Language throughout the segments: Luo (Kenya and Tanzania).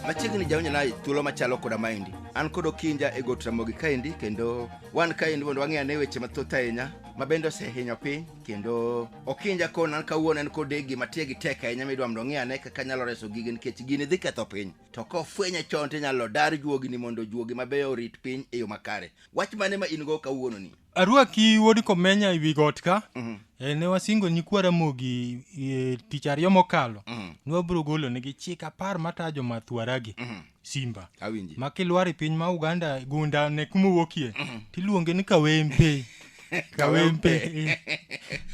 machiegni jaonyona thuolo machalo koda maendi an kod okinja e got ramogi kaendi kendo wan kaendi mondo wang'e ane weche mathoth ahinya ma bende osehinyo piny kendo okinja koni an kawuono en kode gima tie gi tek ahinya midwa mondo ong'e ane kaka nyalo reso gige nikech gini dhi ketho piny to kofwenye chon to inyalo dar juogini mondo juogi mabeyo orit piny e yo makare wach mane ma in go kawuono ni arwaki wuod komenya e wi got ka mm-hmm. e, ne wasingo nyikwa ramogi e, tich ariyo mokalo mm-hmm. ne wabiro golo nigi chik apar mata jomathwaragi mm-hmm. simba ma kilwar e piny ma uganda gunda ne kuma wuokie tiluonge ni kawempe kawempe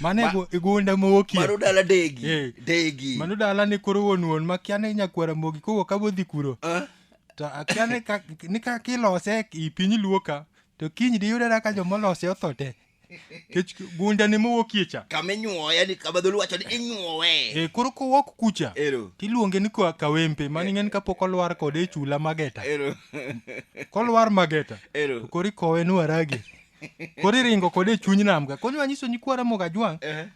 mane igunda mowoki mano dala degi eh. degi mano dala ne koro wuon wuon makia ne nyakwara mogi kowuok abodhi kuro ah. to akia ni ka ni ka kilose i piny luo ka to kiny diyudera ka joma olose otho te kech gunda ni mowuokie cha kama inyuowe yani kama dholuo wacho ni inyuowe e koro kowok kucha ero tiluonge ni kwa- kawempe maning'eni kapok olwar kode e chula mageta ero kolwar mageta ero koro ikowe ni warage koro iringo kode e chuny nam ka koro nyiso nyikwa ramoga jwang' Eh,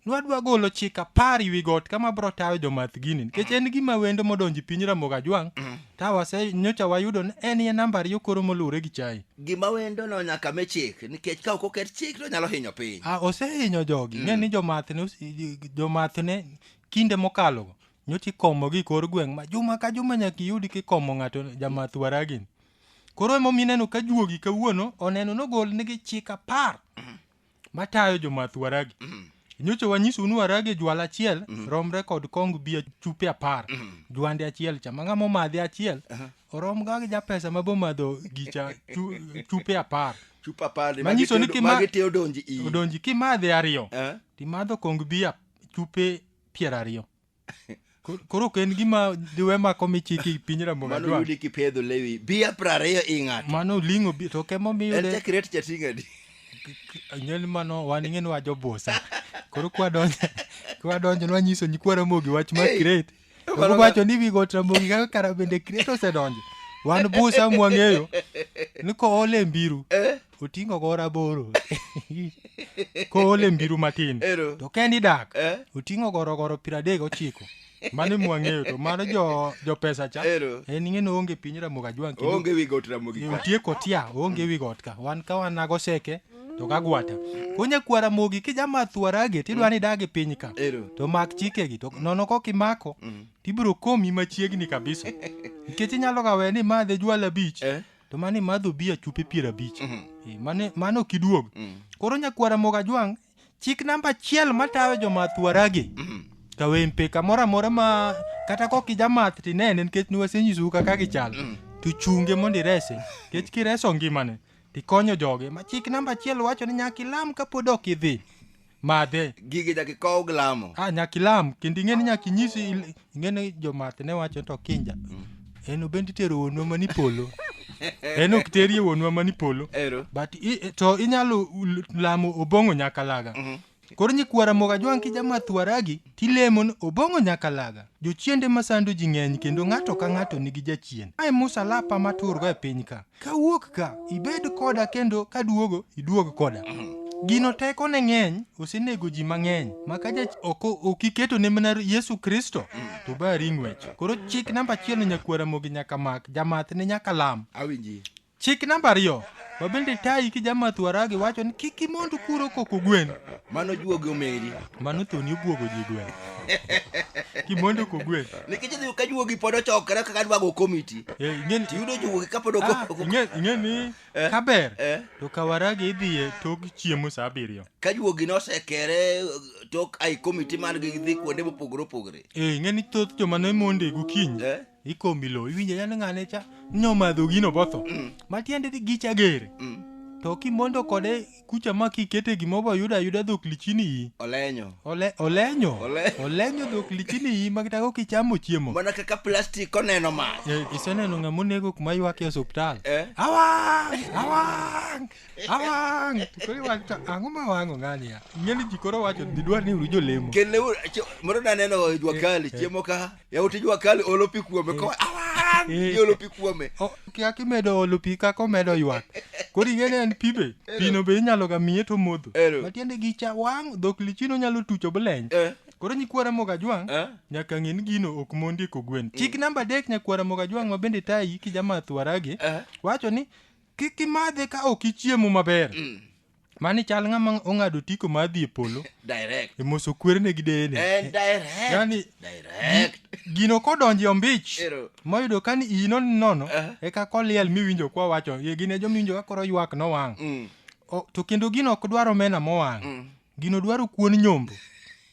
nwadwa golo chik apar ewi got kama bro tayo jomath gini nikech en gima wendo modonjo e piny ramogi ajwang' ka wase nyocha wayudo ni en ye namba ariyo koro moluwre gi chai gima wendo no nyaka me chik nikech ka ok oket chik to nyalo hinyo piny a osehinyo jogi ng'e ni jomath ne ose- jomath ne kinde mokalogo nyocha ikomo gi kor gweng' ma juma ka juma nyaka iyudi kikomo ng'ato jamath waragini koro emomiyo ineno ka juogi kawuono oneno nogol nigi chik apar matayo jomath waragi nyocha wanyisou ni waragi jwala achiel romre kod kong bia chupe apar jwande achiel cha ma ng'ama omadhe achiel orom ga gi japesa ma bomadho gicha chu- chupe apar chupa apar ni Manyiso magi ni te- kima- magi te odonji iyi odonji kimadhe ariyo Eh? timadho kong bia chupe piero ariyo Kor- koro ok en gima diwe mako michiki i piny ramogi mano adwang' yudi kipedho lewi bia prariyo ing'ato mano oling'o bi- to kemo en miyude chakret chating'adi nyel mano wan ing'e ni wajobusa koro kwadonjo kwadonjo nwanyiso nyikwa ramogi wach mar Hey, kiret to mano ga- wacho ni wigot ramogi kaka kara bende kiret osedonjo wan busa mwang'eyo ni koole mbiru oting'o go raboro koole mbiru matin Ero. to kendi dak Eh? oting'o gorogoro piero adek gochiko mano mwang'eyo to mano jo, jo pesa cha Ero. en ing'e ni oonge piny ramogi ajwang' kendo Onge wi got ramogi. e, otie kotia oonge wi got ka wan ka wan nago seke to kagwata konya kwa ramogi kijama thuarage tidwa ni idage piny ka Ero. to mak chikegi to nono kok imako tibiro komi machiegni kabisa nikech inyalo ga we ni madhe jwala bich Eh? to mano imadho bi achupe piero abich Mhm. Eh, mane- mano ok iduog Mm. koro nyakwara moga jwang' chik namba achiel matawe jomath waragi Mhm. kawempe kamoro amora ma kata kok ijamath tinene nikech niwasenyisou kaka gichal Mm. to chunge mondo irese nikech kireso ngimane tikonyo joge ma chik namba achiel wacho ni nyaka ilam kapod ok idhi madhe gigi nyaka ikow gi lamo ah, nyaka ilam kendo ing'e ni nyaka inyisi il- ing'e ni jomath ne wacho to kinja en obend itero wuonwa mani polo en ok terie wuonwa mani polo ero but i, i- to inyalo l- lamo obong'o nyakalaga koro nyikwara mogajwang' kijamathwaragi Tilemo ni obong'o nyaka laga. Jochiende masando ji ng'eny kendo ng'ato ka ng'ato nigi jachien. Mae musalapa maturgo e piny ka. Kawuok ka, ibed koda kendo kaduogo, iduog koda. Gino teko ne ng'eny, osenego ji mang'eny. Maka jach ok ok iketo ne mana Yesu Kristo, to bari ng'wech. Koro chik namba achiel ni nyakwara mogi nyaka mak, jamath ne nyaka lam. Awinji. Chik namba ariyo, ma bende tayi kijamath waragi wacho ni kik imond kuro koko gwen. Mano juogi omeri. Mano thoni obuogo ji gwen. Kimondo ko gwen. Nikech idhi ka juogi pod ochokre kaka dwago komiti. Eh, ing'eni tiyudo juogi ka pod ah, ok. Ing'eni eh, kaber. Eh. To ka waragi idhiye tok chiemo sa abiriyo. Ka juogi nosekere tok ai komiti man gi dhi kuonde mopogore opogore. Eh, ing'eni thoth joma ne monde gokinyi. ikombilo iwinje yani ng'ane cha nyomadho gino botho Mm. matiende dhi gicha gere Mm. to kimondo kode kucha ma kikete gimo boyudo ayuda dhok lichini iyi olenyo Ole, olenyo Ole- olenyo dhok lichini iyi makitako kichamo chiemo mana kaka plastic oneno mach Eh, iseneno ng'ama onego kuma ywak e osuptal Eh? awang awang awang To koro iwacho to ang'o ma wang'o ng'ani ya ing'eni ji koro wacho didwar ni uru jolemo Kele ur- cho- moro naneno juakali chiemo ka yawuot jua kali olo pi kuome ko awang Eh. iolo pi kuome O- kia kimedo olo pi kaka omedo ywak koro ing'eni en pi be pino be inyalo ga miye to modho Ero. matiende gi cha wang' dhok lichino nyalo tucho bleny Eh, koro nyikwara moga jwang' eh. nyaka ng'e ni gino ok mondi ko gwen chik namba adek nyakwara moga jwang' ma bende tayi kijamath waragi Eh. wacho ni kik imadhe ka ok ichiemo maber Mani chal ng'ama ong'ado otiko mar dhi e polo Direct. e moso kwerene gi deyene. And direct. Yani, direct. Gino kodonje ombich Ero. moyudo ka ni iyi non nono Eh. eka koliel miwinjo kwa wacho ye gin e jomiwinjo ka koro ywak no wang'. Mm. O, to kendo gino ok dwar omena mowang'. Gino dwaro kuon nyombo.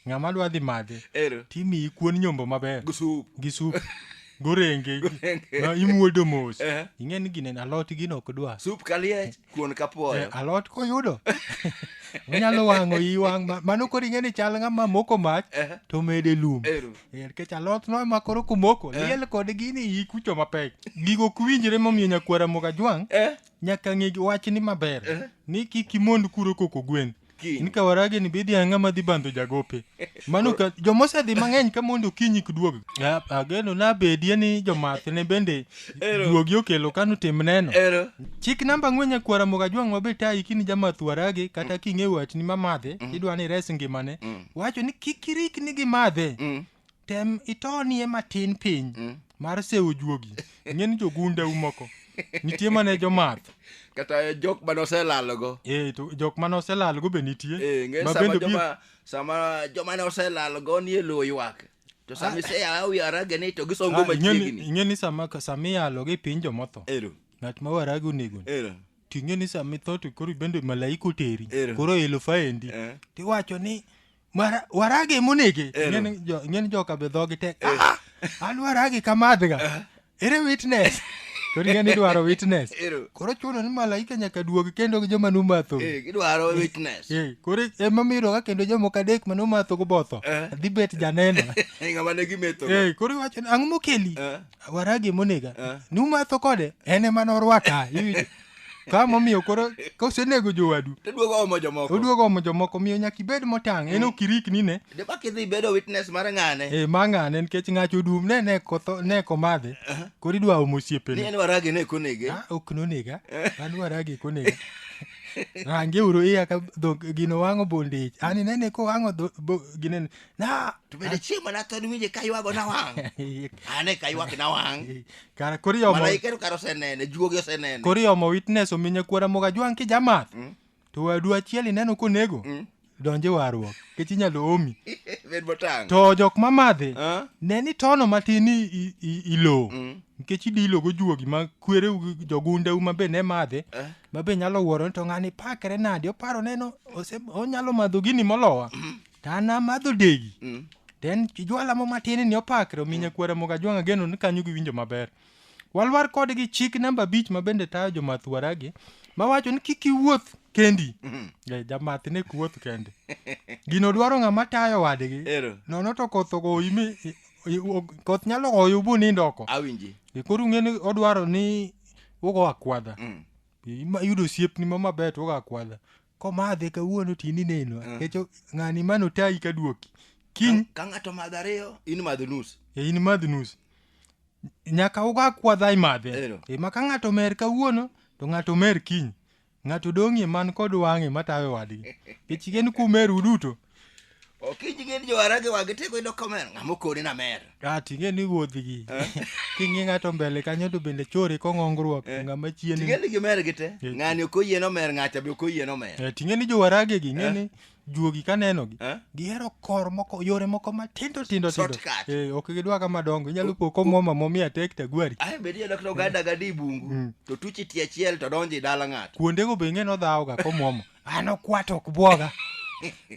Ng'ama dwa dhi madhe Ero. timiyi kuon nyombo maber Gi sup. gi sup gorenge Gorenge. no, imuodo mos Eh. ing'e ni gine alot gino ok dwa Sup kaliech, kuon Eh, kapuoyo. alot koyudo onyalo wang'o iyi wang' ma- mano koro ing'e ni chal ng'ama moko mach Eh. to mede lum Ero. Eh, nikech alot no ema koro kumoko liel kod gini iyi kucho mapek gigo ok winjre momiyo nyakwara moga jwang' Eh. nyaka ng'e wachni maber ni kik imond kuro koko gwen kiny. ni kawarage ni bidhi ang'a ma dhi bandho jagope mano ka joma osedhi mang'eny ka mondo okinyi kduog A- ageno nabedie ni jomath ne bende Ero. duogi okelo kano tim neno Ero. chik namba ang'wen nyakwara moga jwang' mabe tayi kini jamath warage kata king'e watni mamadhe idwa ni res ngimane wacho ni kik irikni gi madhe Mm. tem itonie matin piny mm. mar sewo juogi ng'eni jogunda umoko nitie mane jomath kata jok mane oselalogo e, to jok mane oselalogo be nitie e, sama joma ne oselalogo nie lowo ywak to sama ah. iseyawa wi arage ni to gisongo ah, machiegni ing'e ni sama sama iyalo gi piny jomotho ero ng'at ma warage onego ero to ing'e ni sama itho to koro bende malaika oteri koro elo faendi eh. tiwacho ni Mara- warage monege Eh, no. Ing'eni jo- ing'eni joka be dhogi tek Eh. "Ah, an warage kamadhga ere witness koro ing'eni idwaro witness Ero. koro chuno ni malaika nyaka duogi kendo gi joma numatho Eh, gidwaro witness Eh, koro emamiroga kendo jomoko adek ma numatho go botho Eh. dhi bet janeno Eh, ng'ama ne gimetho Eh, koro iwacho ni ang'o mokeli Eh. warage monega Eh. numatho kode en ema norwaka iwinjo? ka momiyo koro kosenego jowadu to duogo omo jomoko oduogo omo jomoko miyo nyaka ibed motang' en ok irikni ne de bak idhi bedo witness mar ng'ane e ma ng'ane nikech ng'ato odum ne ne kotho ne komadhe koro idwa omo ni osiepene en waragi ne konege Ah, ok nonega an waragi konega range uru iya ka dhok gino wang'o bondage ani nene ko wang'o dho- bo- ginene na to bende chieng' mana tho niwinje ka ywago na wang' ane ka ywak na wang' kara koro iomo malaika to kara osenene juogi osenene koro iomo witness omi nyakwara moga jwang' kijamath Mm. to wadu achiel ineno konego Mm. donje warruok kech inyalo omi bed motang' to jok mamadhi Ah, ne ni tono matin i- i- i- ilo mm, nikech idilogo juogi ma kwereu gi jogundeu ma be ne madhe eh, ma be nyalo wuoro ni to ng'ani pakre nadi oparo neno ose- onyalo madho gini molowa to an amadho degi Mm. to en jwala mo matin ni opakre omi nyakwara moga jwang'a geno ni kanyo giwinjo maber walwar kodgi chik namba abich ma bende tayo jomath waragi mawacho ni kik iwuoth kendi Eh, jamath ne ok wuoth kende gino dwaro ng'ama tayo wadgi Ero. nono to koth ogoyi mi i- i- o- koth nyalo goyo bu nindo oko Awinji. E, koro ung'e ni odwaro ni ugo akwadha Mm. Ima- iyudo osiepni ma maber to ugo akwadha komadhe kawuono to in ineno Ah. kecho ng'ani mano otayi ka duoki kiny Ka- ka ng'ato madho ariyo in madho nus e in madh nus nyaka uga kwadha imadhe Ero. e ma ka ng'ato mer kawuono to ng'ato mer kiny ng'ato dong'ie man kod wang'e matawe wadgi kech gen kumeru duto Okinyi gin jowarage wa gitego yudo komer ng'ama okoni na mer. Ah, ting'e ni wuodhigi king'i ng'ato mbele kanyo to bende chori kong'ongruok ng'ama chien Ting'e ni gimer gite. Eh. Ng'ani ok oyie no mer ng'acha be ok oyie no mer. Eh, ting'e ni jowarage gi ng'e ni juogi kanenogi Eh? gihero kor moko yore moko matindo tindo tindo Shortcut. Eh, ok gidwa kama dongo inyalo po komwoma momi atek tagwari Ae be diyudo kata oganda gadi bungu to tuchi tie achiel to donjo i dala ng'ato. kuondego be ing'e nodhawoga komwomo an okwat ok bwoga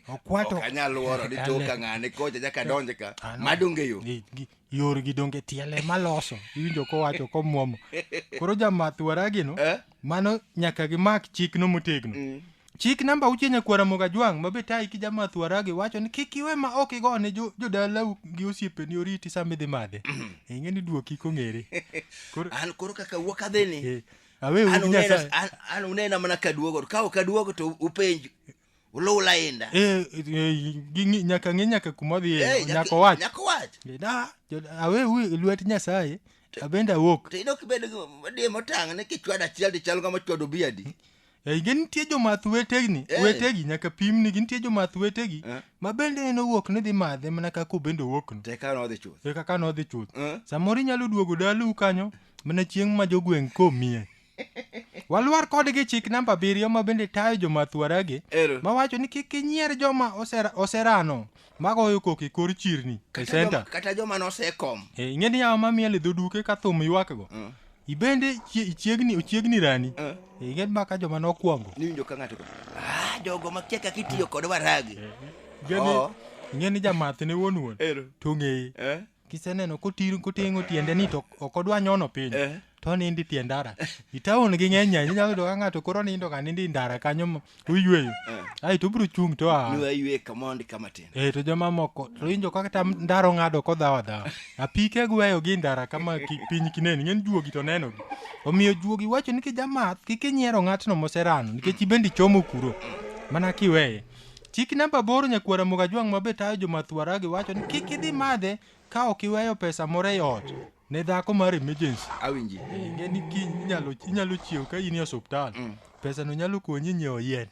okwat ok anyal wuoro ni toka ng'ane kocha nyaka donje ka Ano. madonge yo Gi- gi- yorgi donge tiele maloso iwinjo kowacho komwomo koro jamath waragino Eh? mano nyaka gimak chikno motegno chik namba auchiel nyakwara mogajwang' mabe tayi ki jamath waragi wacho ni kik iwe ma ok igo ne jo- jodalau gi osiepeni oriti sama idhi madhe ing'e ni duoki kong'ere koro an koro kaka wuok adhini Eh, awe An gi uneno- nyasaye an- an unena mana kaduogo ka ok aduogo to upenj uluw lainda Eh, eh, ging'i- nyaka ng'e nyaka kuma odhi Eh, nyaka- nyaka owach nyaka owach da jo- awe u e lwet nyasaye abende awuok to in ok ibed di motang' ni kichwado achiel tichal kama chwado biadi Eh, gi nitie jomath wetegi Eh. wetegi nyaka pimni gi nitie jomath wetegi Eh. ma bende en owuok ni dhi madhe mana kaka obende owuokno to eka nodhi chuth e kaka nodhi chuth Eh. samoro inyalo duogo dalau kanyo Mana chieng' ma jogweng' komie. Walwar kodgi chik namba abiriyo ma bende tayo jomathuaragi Ero. mawacho ni kik inyier joma osera- oserano magoyo koko e kor chirni e Kata senta. joma- kata joma nosekom Eh, ing'e ni yawa ma miel e dho duke ka thum ywakgo Mm. ibende chie- ichiegni ochiegni rani Eh. Eh, ing'e ma ka joma nokwongo niwinjo ka ng'ato go, "Ah, jogo makia kaka itiyo kod waragi Ing'e ni- Oo. ing'e ni jamath ne wuon wuon ero to ng'eye Eh. kiseneno kotir kotengo tiende ni to ok odwa nyono piny Eh. to nindi tie ndara itaon gi ng'eny ahinya inyalo yudo ka ng'ato koro nindo ka nindi ndara kanyo m- oyueyo ai to obiro chung' to a Nua yue kamondi kama tin. eh to jomamoko to winjo kaka tam ndaro ng'ado kodhawa dhawa apike gweyo gi ndara kama ki- piny kineni ng'en juogi to nenogi omiyo juogi wacho ni kijamath kik inyiero ng'atno moserano nikech ibende ichomo kuro mana kiweye Chik namba aboro Nyakwar Ramogi Ajwang' ma be tayo jo math Waragi wacho ni kik idhi madhe ka ok iweyo pesa moro e ot ne dhako mar emergency. Awinji. Ing'e ni kiny inyalo inyalo chiew ka in e osiptal. Pesa no nyalo konyi nyiewo yien.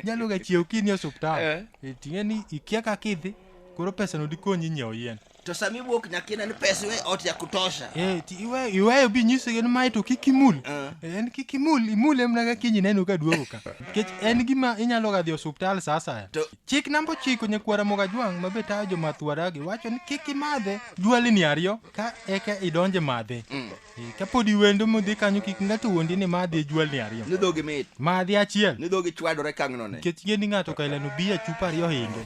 Nyalo ga chiew kiny e osiptal. Eh. Eh, Ting'e ni ikia kaka idhi koro pesa no dikonyi nyiewo yien. to sama iwuok nyaka ine ni pesa iwe ot ya kutosha Eh, ti- iwe- iweyo bi nyisige ni mae to kik imul Eh. Eh, en kik imul imule mana ka kiny ineno ka duogo ka nikech en gima inyalo ga dhi osuptal sa asaya To- chik namba ochiko nyakwara mogajwang' ma be tayo jomathwaragi wacho ni kik imadhe jwalni ariyo ka eka idonje madhe Eh, ka pod iwendo modhi kanyo kik ng'ato wuondi ni madhi e jwalni ariyo ni dhogi mit madhi achiel ni dhogi chwadore kang'no ne nikech ng'e ni ng'ato ka ileno biya chupa ariyo hinge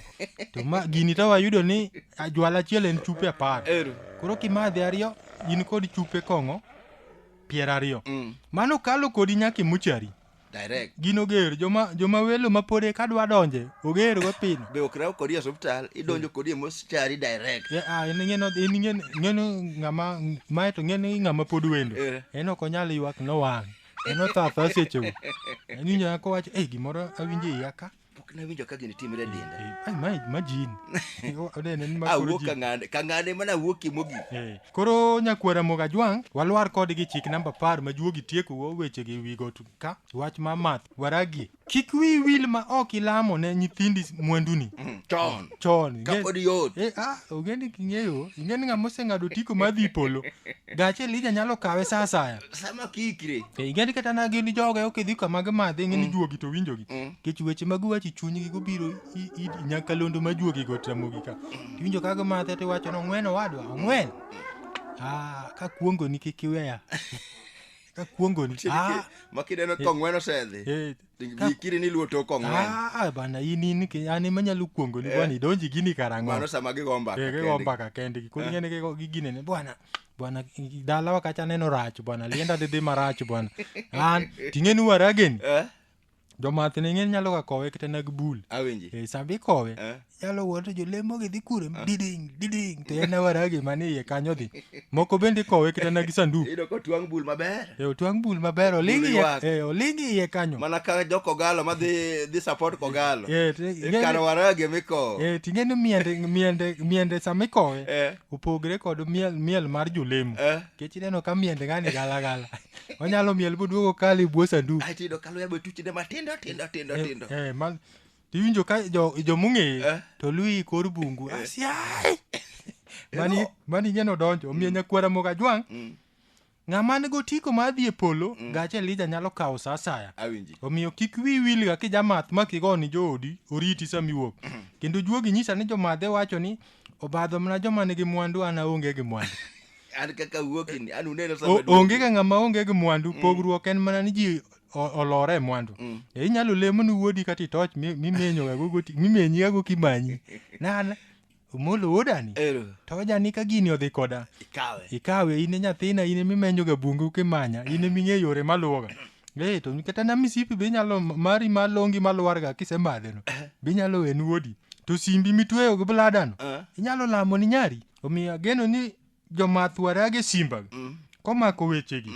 to ma gini to wayudo ni Ajwala achiel en chupe apar. Ero. Koro kimadhe ariyo in kod chupe kong'o piero ariyo. Mm. Mano kalo kodi nyaka imuchari. Direct. Gino ger joma joma welo ma pode ka dwa donje oger go pino. Be ok raw kodi e hospital idonjo mm. kodi e moschari direct. Yeah, ah, in ngeno in ngeno ngeno ngama mae to ngeno ngama pod wendo. Yeah. En ok onyal ywak no wang'. En othatha seche go. En nyako wacho eh gimoro awinje yaka. pok nawinjo ka gini timre linda Eh, ai, ma imagine Yo, onene ni ma koro awuok ji- kang'ane kang'ane mana awuokie mogik Eh, koro nyakwara moga jwang' walwar kodgi chik namba par ma juogi tieko wo weche gi wigo tu- ka wach ma math waragie kik wi wil ma ok ilamo ne nyithindi s- mwanduni chon chon Ka pod yot. eh, ah, ogendi king'eyo ing'eni ng'ama oseng'ado tiko madhi polo gache lija nyalo kawe sa asaya sama kiikre Eh, ing'eni kata na gin joge ok idhi kama gimadhi ing'eni juogi to winjogi kech weche mag wachi chunygi gobiro i- i- nyakalondo ma juogi go tramogi ka tiwinjo ka gimadhe tiwacho ni ong'wen owadwa ong'wen Ah, ka kuongoni kik iweya ka kuongoni Ah, ma kineno kong'wen osedhi eh, ka- ikiri ni luo tok ong'wen ah, bana in in ki- an ema nyalo kuongoni bwana idonji gini karang'o mano sama gigo mbaka Eh, gigo kendgi. mbaka kendgi koro ing'eni gigo- giginene bwana bwana dala wakacha neno rach bwana lienda dhidhi marach bwana an ting'eni warageni Eh? jomath ne ng'eni nyalo ga kowe kata nag bul Awinji. e sambi kowe Eh? nyalo wuoto jolemo gi dhi kure diding diding to en waragi mane iye kanyo dhi moko bende kowe kata nag sanduk Iyudo ka otwang' bul maber. e otwang' bul maber oling Bul iye ywak. e oling iye kanyo Mana ka jo kogalo ma dhi dhi support kogalo. Eh, te- Ikano warage mikowo. e ting'eni miende miende miende samikowe Eh. opogre kod miel, miel mar jolemo Eh. kech ineno ka miende ng'ani galagala onyalo miel boduogo kale bwo sanduku Ae tiyudo ka luya be tuchne matindo tindo tindo tindo. Eh, eh, ma- tiwinjo ka jo- jomong'eyo Eh. to luyi kor bungu asiae mani mani ing'eno donjo omiyo nyakwara mokajwang' Mm. Ng'ama nigo otiko mar dhi e polo, mm. gach Elija nyalo kawo sa asaya. Omiyo kik wi wilga kijamath ma kigo ni joodi oriti sama iwuok. Mm. Kendo juogi nyisa ni jomadhe wacho ni obadho mana joma nigi mwandu an aonge gi mwandu. an kaka wuokini an uneno sama onge ga ng'ama onge gi mwandu mm. pogruok en mana ni ji olore e mwandu mm. e inyalo lemo ni wuodi kata itoch mimenyogago mimenyigago kimanyi nana Omolo wuodani Ero, to ojani ka gini odhi koda ikawe. ikawe in e nyathina in emimenyoga bungu kimanya in eming'e yore maluwoga ee to kata na misipi be inyalo mari malongi malwarga kisemadheno be inyalo wen wuodi to simbi mitweyo gi bladano Eh. inyalo lamo ni nyari omiyo ageno ni jomath warage simbaga Mm. komako wechegi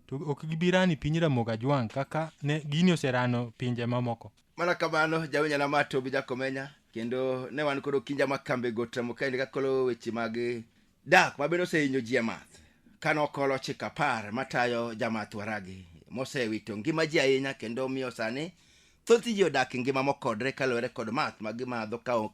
to ok gibirani piny ramoga jwang' kaka ne gini oserano pinje mamoko mana kamano jawenya na mato bi jakomenya kendo ne wan koro kinja ma kambe go temo kaende kakolo weche mag dak ma bende osehinyo ji amath kane okolo chik apar matayo jamath waragi mosewito ngima ji ahinya kendo miyo sani thoth ji odak e ngima mokodre kaluwore kod math ma gimadho ka ok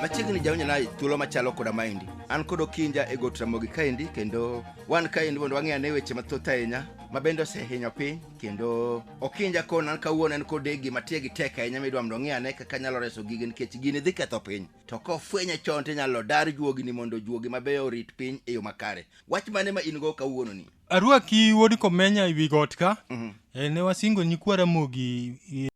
machiegni jaonyana thuolo machalo koda maendi an kod okinja e got ramogi kaendi kendo wan kaendi mondo wang'e ane weche mathoth ahinya ma bende osehinyo piny kendo okinja kona an kawuono en kod gima tie gi tek ahinya midwa mondo ong'e ane kaka nyalo reso gige nikech gini dhi ketho piny to kofwenye chon to inyalo dar juogini mondo juogi mabeyo orit piny e yo makare Wach mane ma in go kawuono ni? Arwaki wuod Komenya e wi got ka. Mhm. Eh, ne wasingo nyikwa Ramogi